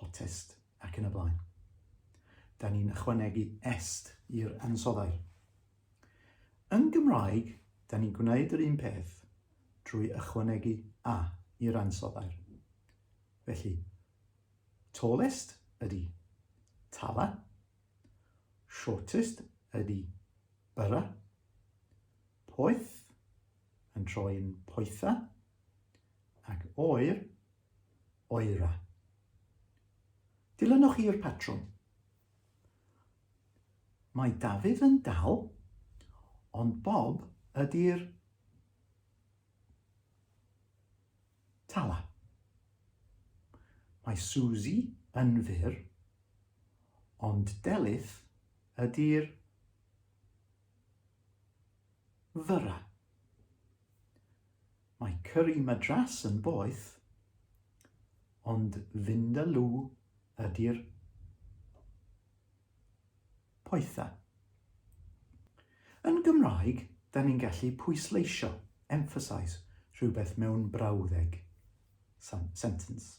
hotest, ac yn y blaen. Da ni'n ychwanegu est i'r ansoddau. Yn Gymraeg, da ni'n gwneud yr un peth drwy ychwanegu a i'r ansoddau. Felly, tallest ydy tala, shortest ydy byrra, poeth yn troi'n poetha, ac oer oera. Dilynwch i'r patrwm. Mae Dafydd yn dal, ond Bob ydy'r tala. Mae Suzy yn fyr, ond Delyth ydy'r fyra. Mae Curry Madras yn boeth, ond Vindaloo ydy'r poethaf. Yn Gymraeg, da ni'n gallu pwysleisio, emphasise, rhywbeth mewn brawddeg, sentence.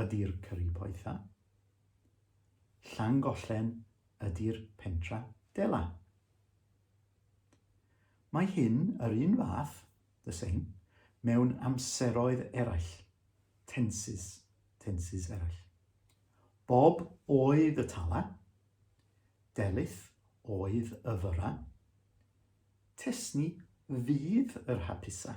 ydi'r cyrri poetha. Llangollen ydi'r pentra dela. Mae hyn yr un fath, the same, mewn amseroedd eraill, tenses, tenses eraill. Bob oedd y tala, delith oedd y fyra, tesni fydd yr hapusa.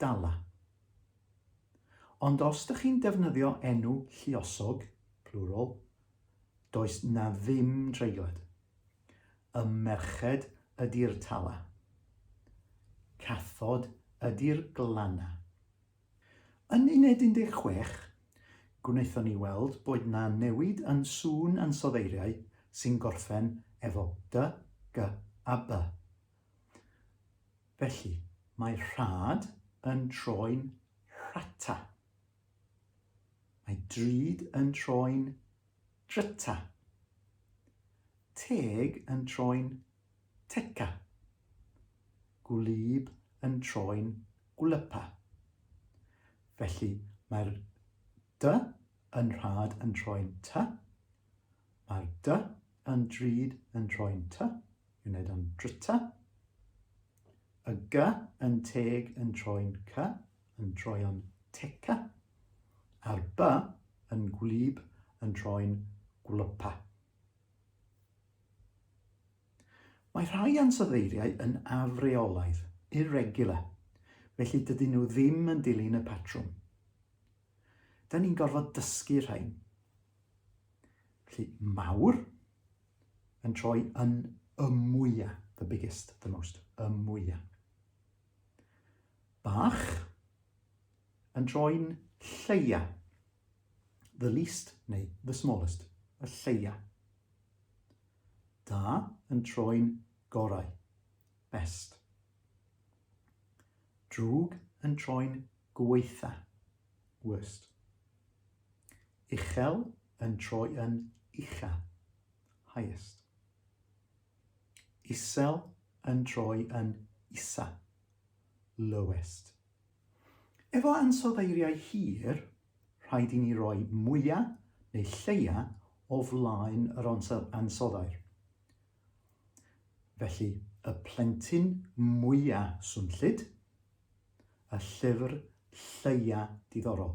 Dala. Ond os dych chi'n defnyddio enw lluosog, plural, does 'na ddim treiglad. Y merched ydi'r tala. Cathod ydi'r glanna. Yn uned 16, gwnaethon ni weld bod 'na newid yn sŵn ansoddeiriau sy'n gorffen efo dy, gy a by. Felly, mae rhad yn troi'n rhata. Mae drud yn troi'n dryta. Teg yn troi'n teca. Gwlyb yn troi'n gwlypa. Felly, mae'r dy yn rhad yn troi'n ty. Mae'r dy yn drud yn troi'n ty. Fi'n wneud o'n drita. Y gy yn teg yn troi'n cy, yn troi o'n teca. A'r by yn gwlyb yn troi'n gwlypa. Mae rhai ansoddeiriau yn afreolaidd, irregular, felly dydyn nhw ddim yn dilyn y patrwm. Da ni'n gorfod dysgu rhain. Felly, mawr, yn troi yn y mwya, the biggest, the most, y mwya. Bach yn troi'n lleia, the least neu the smallest, y lleia. Da yn troi'n gorau, best. Drwg yn troi'n gweitha, worst. Uchel yn troi yn ucha, highest. Isel yn troi yn isa, lowest. Efo ansoddeiriau hir, rhaid i ni roi mwya neu lleia o flaen yr ansoddair. Felly, y plentyn mwya swnllyd, y llyfr lleia diddorol.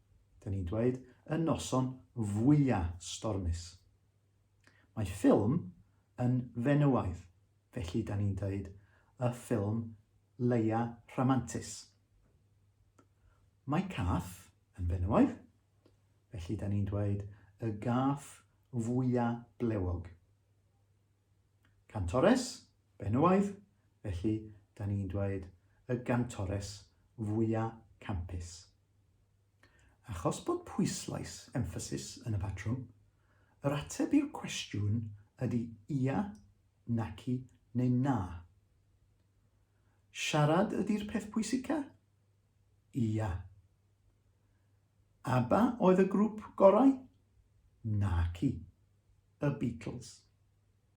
'dyn ni'n dweud, y noson fwya' stormus. Mae ffilm yn fenywaidd, felly 'dan ni'n deud y ffilm leia rhamantus. Mae cath yn fenywaidd, felly 'dan ni'n dweud y gath fwya' blewog. Cantores, benywaidd, felly 'dan ni'n dweud y gantores fwya' campus. Achos bod pwyslais, emphasis, yn y patrwm, yr ateb i'r cwestiwn ydy ia, naci neu na. Siarad ydy'r peth pwysica? Ia. ABBA oedd y grŵp gorau? Naci. Y Beatles.